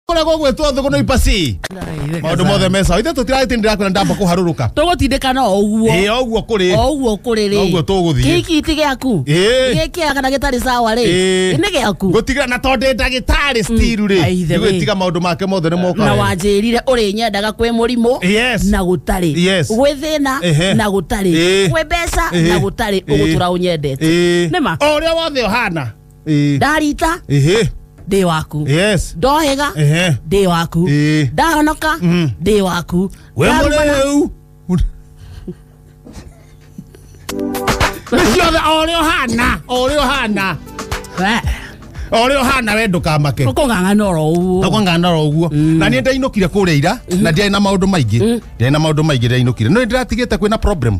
kũrĩa gũgwĩtwo thũgũ no ipasi maũndũ mothe me sawa ithe tũtiragĩtĩ ndĩrakwĩra ndamba kũharũrũka tũgũtindĩkana o ũguo ĩĩ o ũguo kũrĩ o ũguo kũrĩ rĩ Noguo tũgũthiĩ. kĩiki ti gĩaku Ĩĩ. gĩkĩa kana gĩtarĩ sawa rĩ Ĩĩ. nĩ gĩaku gũtigĩra na tondĩ ndagĩtarĩ stiru rĩ Aithe wĩ. ndigwĩtiga maũndũ make mothe nĩ na moka wanjĩrire ũrĩ nyendaga kwĩ mũrimũ Yes. na gũtarĩ Yes. gwĩ thĩna Ehe. na gũtarĩ Ĩĩ. gwĩ mbeca Ĩĩ. na gũtarĩ Ĩĩ. ũgũtũra ũnyendete Ĩĩ. nĩma o ũrĩa wothe ũhana Eh, ndarita ehe, ndĩ waku yes. ndohĩga Ehe. ndĩ waku Eh. ndahonoka Mm. ndĩ waku We Ndarumana- mũrĩu. Nĩ ciothe o ũrĩa ũhana, o ũrĩa ũhana, We, o ũrĩa ũhana we ndũkamake. ũkũng'ang'ana oro ũguo nakwangandara ũguo na niä ndainåkire kå rä a ira na ndiarä na maå ndå maingä ndiarä na maå ndå maingä ndainåkire no nä ndäratigä te kwä na problem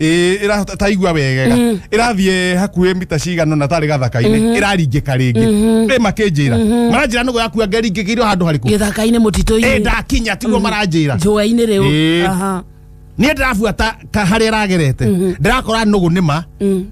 Ĩ, ĩra- ta- taigua wegega ĩrathiĩ hakuhĩ mita cigana na tarĩ gathaka-inĩ ĩraringĩka rĩngĩ rĩ makĩnjĩra maranjĩra nũgũ yakua ngeringĩkĩirwo handũ harĩkũ gĩthaka-inĩ ĩ mũtitũ-inĩ ndakinya tiguo maranjĩra njũa-inĩ rĩu Ĩĩ. Aha. niä ndärabuata harä a ragerete ndärakora nũgå nä ma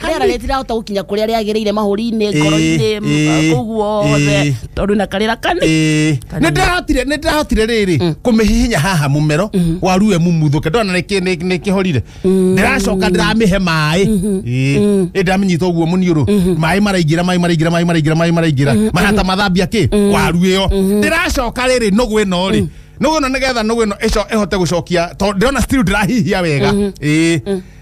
rĩera rĩtirahota gũkinya kũrĩa rĩagĩrĩire mahũri-inĩ ngoro-inĩ Ĩĩ, ĩĩ, kũu guothe ĩĩ. tondũ na karĩra kani Ĩĩ. Nĩ ndĩrahotire- nĩ ndĩrahotire rĩrĩ kũmĩhihinya haha mũmero warue mumuthũke ndona nĩ kĩ- nĩ- nĩ kĩhorire ndĩracoka ndĩramĩhe maĩ Ĩĩ. Ĩ ndamĩnyita ũguo mũniũrũ maĩ maraingĩra maĩ maraingĩra maĩ maraingĩra maĩ maraingĩra mahata mathambia kĩ waru ĩyo ndĩracoka rĩrĩ nũgũ ĩno rĩ nũgũ ĩno nĩgetha nũgũ ĩno ĩco- ĩhote gũcokia tondũ ndĩrona still ndĩrahihia wega Ĩĩ.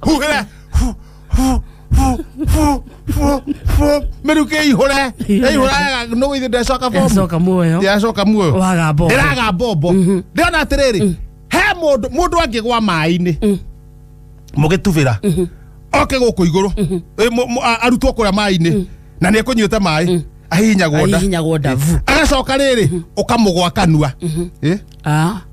huhĩre hu, hu, hu, hu, hu, hu. mĩrukĩ ihũre ihũra no ithe ndacoka bomu yacoka muoyo yacoka muoyo waga mbogo ndĩraga mbombo ndĩrona atĩrĩrĩ he mũndũ mũndũ angĩgwa maĩ-inĩ mũgĩtubĩra oke gũkũ igũrũ Ĩ, mũ- mũ- a- arutwo kũrĩa maĩ-inĩ na nĩ ekũnyuĩte maĩ ahihinyagwo nda ahihinyagwo ndavu agacoka rĩrĩ ũkamũgwa kanua Ĩ? Ah.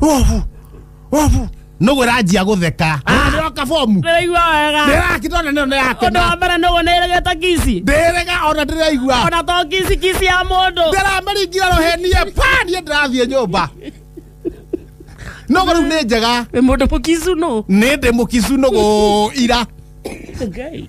Ovu. Ovu. Nũgũ ĩranjia gũtheka. Nĩroka bomu. ndĩraigua wega Ndĩrakitona nĩyo nĩ yake. ũndũ wa mbere nũgũ nĩĩregete kisi Ndĩrega ona ndĩraigua. ona to kisi kisi ya mũndũ Ndĩramĩringira rũhenie. Pa niĩ ndĩrathiĩ nyũmba. Nũgũ rĩu nĩ njega. wĩ mũndũ mũkicu nũ Nĩ ndĩ mũkicu nũgũ ira. Ngai.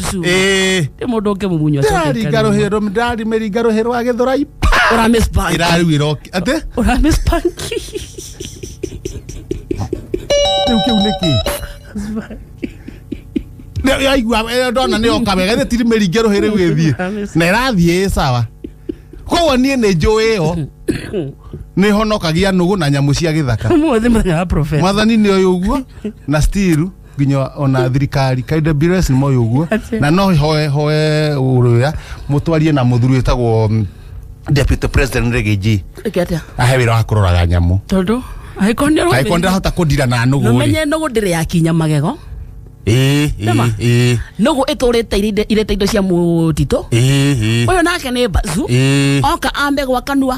Zuma. Eh. Nĩ mũndũ ũngĩ mũmunyo acoke ndari akarĩmwo. ngarũhĩrwo ndari mĩri ngarũhĩrwo agĩthũrai Ũra miss bank. ĩrariu ĩroki atĩ Ũra miss bank. rĩu kĩu nĩ kĩ Nĩ- yaigua ĩyo ndona nĩ oka wega ĩthĩ tiri mĩri ngerũhĩ rĩu ĩthiĩ na ĩrathiĩ ĩ sawa koguo niĩ nĩ njũĩ ĩyo nĩ honokagia nũgũ na nyamũ cia gĩthaka Ũmũthĩ mũthenya wa prophet. mwathani nĩ ũyũ ũguo na stiru nginya ona thirikari kaida bires nä moä å guo Atia. na no hoe hoe å rå ya må twarie na må thuri wä tagwo mm, deputy president rä gä nji Ĩke atĩa? ahe wä ra wa kå roraga nyamå tondũ angĩkorwo nĩ kaä korwo ndä rahota kå ndira na nå gå rä nomenye nũgũ ndĩrĩ yakinya magego ä Nĩma? ä nũgũ ĩtũrĩte irĩ- irĩte indo cia mũtitũ ä ũyũ nake nĩ mbacu ä oka ambe gwa kanua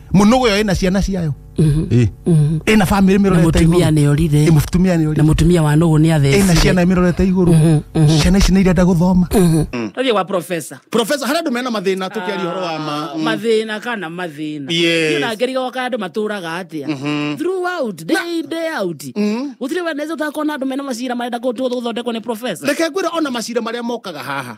munugu yo ina ciana ciayo Eh. ina family na mirorete mutumia iguru nä orire Eh, mutumia ni na ori mutumia wa nũgũ nä ina atheci ciana mirorete iguru ciana ici nä irenda guthoma tothiä gwa profesa professor hara andu mena mathina tukiaria horo wa ma mm. mathä na kana mathä na Yes. na ngerigoka andå matå raga atä a throughout day day out gå tirä weneza å takona andå mena macira marenda gå thondekwo nä profesa reke ngwä ona macira marä a mokaga haha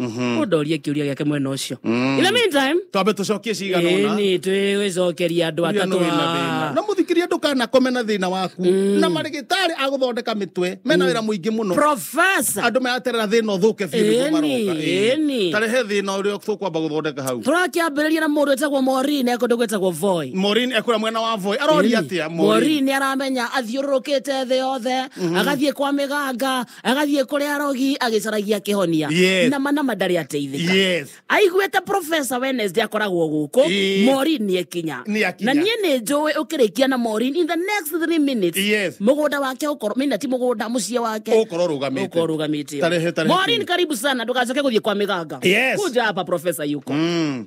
Mhm. ũndorie kĩũria gĩake mwena ũcio Mm. in the meantime twambe tũcokie cigana ũna ĩni twĩgũcokeria andũ Ũrĩa nĩ atatũ wĩna thĩna. haha. na mũthikiria ndũkanakome na thĩna waku na marĩgĩtarĩ agũthondeka mĩtwe mena wĩra mũingĩ mũno Professor, andå maraterera thä na å thå ke Ĩni, ĩni. tarehe thä na å rä a tå kwamba gå thondeka hau tũrakĩambĩrĩria na mũndũ wĩtagwo morini ekũndũ gwĩtagwo voi morin ekå rä mwena wa voi aroria atä a morini aramenya athiũrũrũkĩte thĩ yothe agathiĩ kwa mĩganga agathiä kå rä arogi agäcaragia kä honia Yes. nama nama ndarä ateithä Yes. aiguĩte profesa wednesday akoragwo gũkũ Ĩĩ. morin nĩ ekinya Nĩ akinya. na niĩ nĩ njũĩ ũkĩrĩkia na morin in the next three minutes Yes. mũgũnda wake ũkorwo mina ti mũgũnda mũciĩ wake Ũkorwo ũrũgamĩte. ũkorwo ũrũgamĩte Tarehe- tarehe morin kumi. karibu sana ndũgacoke gũthiĩ kwa mĩganga Yes. kuja hapa profesa yuko Mm.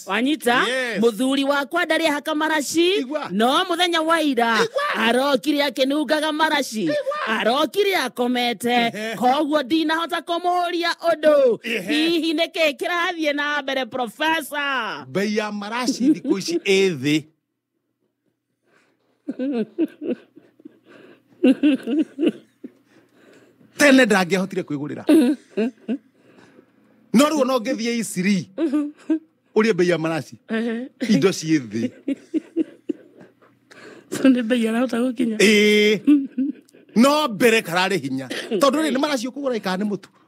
wanyita Yes. muthuri wakwa ndarĩ ahaka maraci Igua. no muthenya wa ira Igua. arokire akĩnungaga maraci arokire akomete Ehe. koguo ndinahota kũmũhũria ũndũ Ehe. hihi nĩ kĩĩ kĩrathiĩ na mbere profesa mbei ya maraci thikå ici ä thä tene ndangĩahotire kwĩgũrĩra no rĩu ona ũngĩthiĩ isiri ũrĩe mbei ya maraci indo ciĩ thĩ so nĩ mbei arahota gũkinya ĩĩ no mbere kararĩ hinya tondũ rĩ nĩ maraci ũkũgũra ĩkaa nĩ mũtu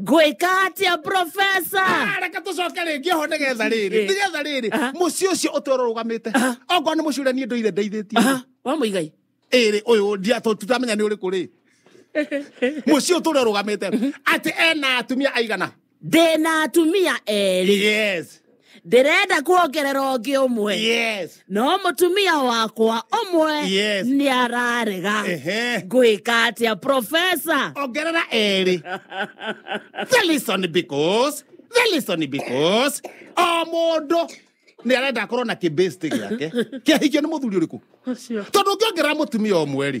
ngwĩka atĩa profesa Ah, reke tũcoke rĩngĩ ho nĩ getha rĩrĩ Eh. nĩ getha rĩrĩ Aha. mũciĩ ũcio ũtwero rũgamĩte okorwo nĩ mũciĩ ũrĩa niĩ ndũire ndeithĩtie Aha, wa mũigai ĩrĩ ũyũ ndia- tũ- tũtamenya nĩ ũrĩkũ rĩ mũciĩ ũyũ tũrĩa rũgamĩte atĩ ena atumia aigana ndĩna atumia erĩ yes ndĩrenda kuongerera ũngĩ ũmwe yes no mũtumia wakwa ũmwe Yes. nĩ ararega ehe ngwĩka atĩa profesa ongerera erĩ the listen because the listen because o mũndũ nä arenda akorwo na kä gäake kä ahikio nä må thuri å rä kå tondå å ngä ongerera må tumia å mwe rä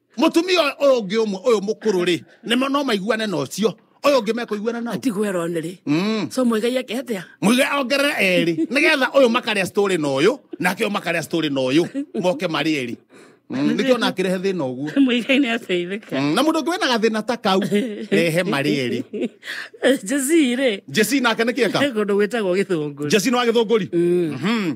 mutumia ũyũ- ũyũ ũngĩ ũmwe ũyũ mũkũrũ rĩ nĩmo no maiguane na ũcio ũyũ ũngĩ mekũiguana nao tigwo erone rĩ Mm. so mũigai eke atia muge ongerere erĩ nigetha ũyũ makarĩa story na ũyũ nake ũyũ makarĩa story na ũyũ moke marĩ erĩ Mm, nĩkĩo ona akĩrehe thĩna ũguo mũigai nĩ ateithĩka Mm, na mũndũ ũngĩ wĩna gathĩna ta kau rehe marĩ erĩ jesi rĩ jesi nake nĩkĩeka he kũndũ gwĩtagwo gĩthũngũ jesi nĩ wa gĩthũngũri Mhm.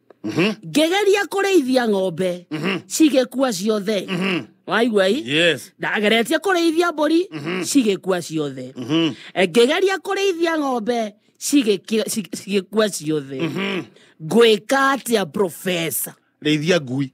Mhm. ngĩgeria kũrĩithia ng'ombe Mhm. cigĩkua ciothe Mhm. waigua i Yes. ndageretie kũrĩithia mbũri Mhm. cigĩkua ciothe Mhm. ngĩgeria kũrĩithia ng'ombe cigĩki- ci- cigĩkua ciothe Mhm. ngwĩka atĩa profesa Rĩithia ngui.